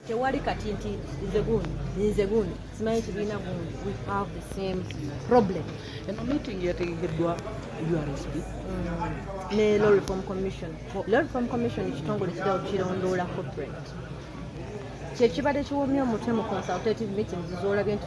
tewali kati nti nze gundi nze gundi simanyi kibiina gundi we have the same problem eno meeting yategekeddwa ursb mm. ne law reform commission law reform commission ekitongole kija okukirondoola corporate kyekibadde kiwomya omutwe mu consultative meetings zolabye nti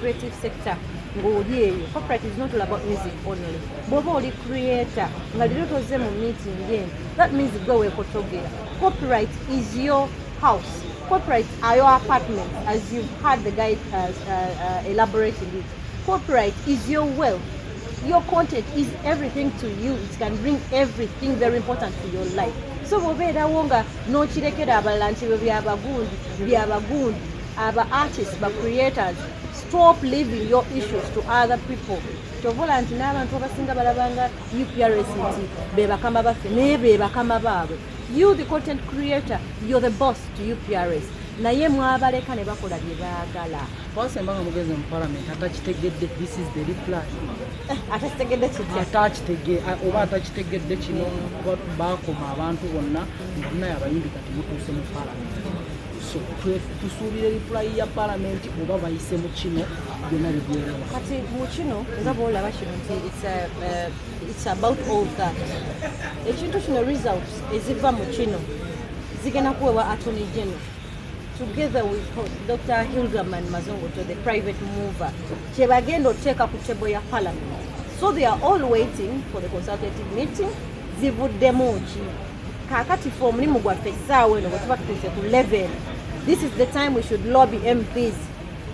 creative sector ng'oli eyo corporate is not all about music only bw'oba oli creator nga leero tozze mu meeting eno that means gwe weekotogera copyright is your house copyright are your apartment as you've heard the guy uh, uh, uh, elaborating it copyright is your wealth your content is everything to you it can bring everything very important to your life so bw'obeerawo nga n'okirekera abalala nti bwe byabagundi byabagundi aba artists ba creators stop leaving your issues to other people kyovola nti n'abantu abasinga balabanga uprs nti bebakama baffe naye bebakama baabwe you the content creator you're the boss to uprs naye mwabaleka ne bakola bye baagala wasemba nga mugezi mu parliament atakitegedde this is the reply eh, atakitegedde kitya atakitege oba atakitegedde kino bakoma abantu bonna nga munaye abayimbi kati mutuuse mu parliament so tusuubira reply ya palamenti oba bayise mu kino byonna bibyerawa kati mu kino nga bwolaba kino nti its uh, uh, about all that ekintu kino results eziva mu kino zigenda kuwewa atony general together with dr hilderman mazongoto the private mover kyebagenda oteeka ku table ya palamenti so they are all waiting for the consultative meeting zivuddemu ki Kakati fe omulimu gwaffe essaawa eno bwetuba tutuuse ku level this is the time we should lobby mps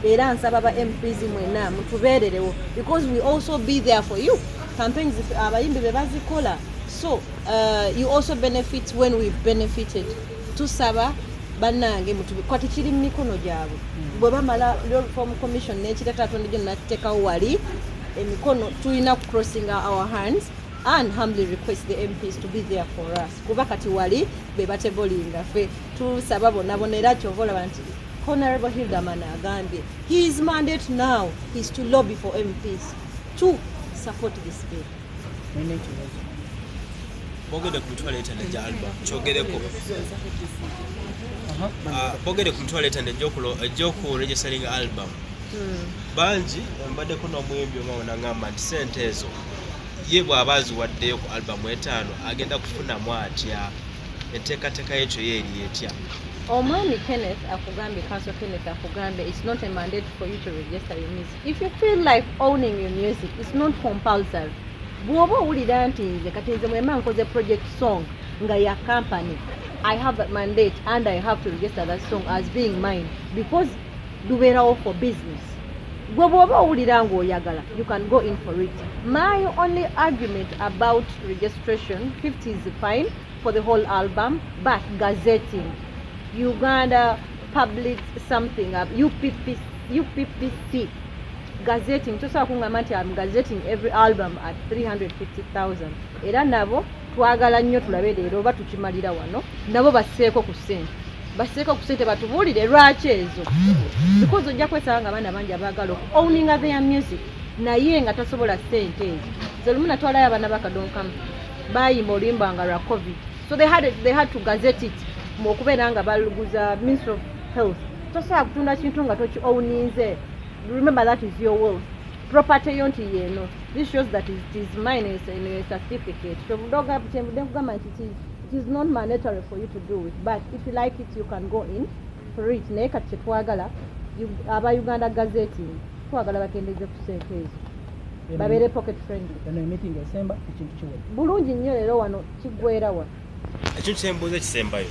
era nsaba ba mps mwena mutubeererewo because we also be there for you campaigns abayimbi be bazikola so uh, you also benefit when we've benefited tusaba banange kati kiri mu mikono gyabwe hmm. bwe bamala reform commission nekireta tonde gyo nakitekawo wali emikono tulina kucrossinga our hands and humbly request the mps to be there for us kuba kati wali bebatebolinga fe tusaba bonabona era kyova olaba nti honorable hilderman agambye he is mandate now is to lobby for mps to support this bill bogede ku mitwalo etano egya alba kyogereko ah, bogede ku mitwalo etano egyokuregisteringa album hmm. bangi mbaddeko n'omuyimbi omawona ngamba nti sente ezo ye bw'aba aziwaddeyo ku albamu etaano agenda kufunamu atya enteekateeka yekyo ye eri etya omwami kenneth akugambye kanso kenneth akugambye its not a mandate for you to register your music if you feel like owning your music its not compulsory bw'oba owulira nti nze kati nze mwema nkoze project song nga ya company i have that mandate and i have to register that song as being mine because lubeerawo for business gwe bwoba owulira nga oyagala you can go in for it my only argument about registration 50 is fine for the whole album but gazetting uganda public something up uppc uppc gazetting tosobola kungamba nti am gazetting every album at 350000 era nabo twagala nnyo tulabe leero oba tukimalira wano nabo basseeko ku ssente basseeko ku ssente batubuulire lwaki ezo bikozi ojja kwesaba nga abaana bangi abaagala oku owninga their music naye nga tasobola ssente ezo ze lumu natwalayo abaana bakadonkamu bayimba oluyimba nga lwa covid so they had, they had to gazet it mu okubeera nga baluguza ministry of health tosobola kutunda kintu nga toki owninze remember that is your world property yo nti yeno this shows that it is mine is in your certificate so budoga butembude kugamba nti it is it is not mandatory for you to do it but if you like it you can go in for it naye kati kyetwagala aba uganda gazeti twagala bakendeze ku sente ezo babeere pocket friendly eno emitingi esemba ekintu kiwe bulungi nnyo leero wano kiggwerawa ekyo kyembuuza kisembayo